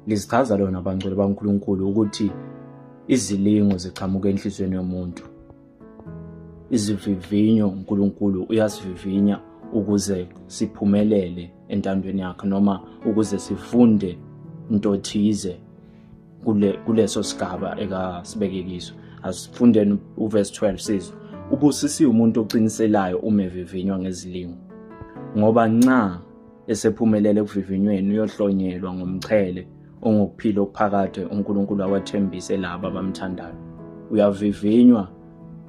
lizichaza lona bangcwele bankulunkulu ukuthi izilingo ziqhamuka enhliziyweni yomuntu izivivinyo unkulunkulu uyasivivinya ukuze siphumelele entandweni yakhe noma ukuze sifunde into thize kule kuleso sigaba ekasibeke kiso asifundeni uverse 12 sizwe ubusisiwe umuntu oqiniselayo uma evivinywa ngezilingo ngoba nxa esephumelele ekuvivinyweni uyohlonyelwa ngomqhele ongokuphila okuphakade uNkulunkulu awathembise laba abamthandayo uyavivinywa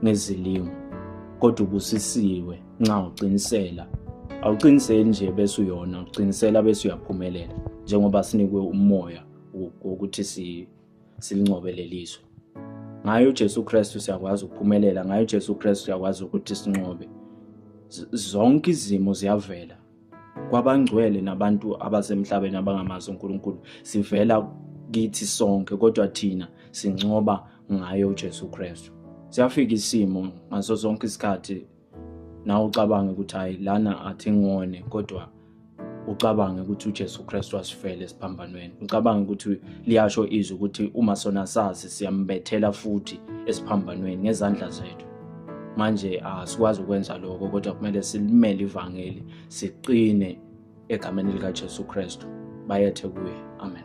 ngezilingo kodwa ubusisiwe nxa uqinisela awuqiniseli nje bese uyona uqinisela bese uyaphumelela njengoba sinikwe umoya wokuthi si silincobe lelizwe ngayo uJesu Kristu siyakwazi ukuphumelela ngayo uJesu Kristu siyakwazi ukuthi sinqobe zonke izimo ziyavela kwabangcwele nabantu abasemhlabeni abangamazi uNkulunkulu sivela kithi sonke kodwa thina sincoba ngayo uJesu Kristu siyafika isimo ngaso sonke isikhathi nawe ucabange ukuthi hayi lana athi ngone kodwa ucabange ukuthi uJesu Kristu wasifela esiphambanweni ucabange ukuthi liyasho izwi ukuthi uma sona sazi siyambethela futhi esiphambanweni ngezandla zethu manje asikwazi ukwenza lokho kodwa kumele silimele ivangeli siqine egameni likaJesu Kristu bayethe kuye amen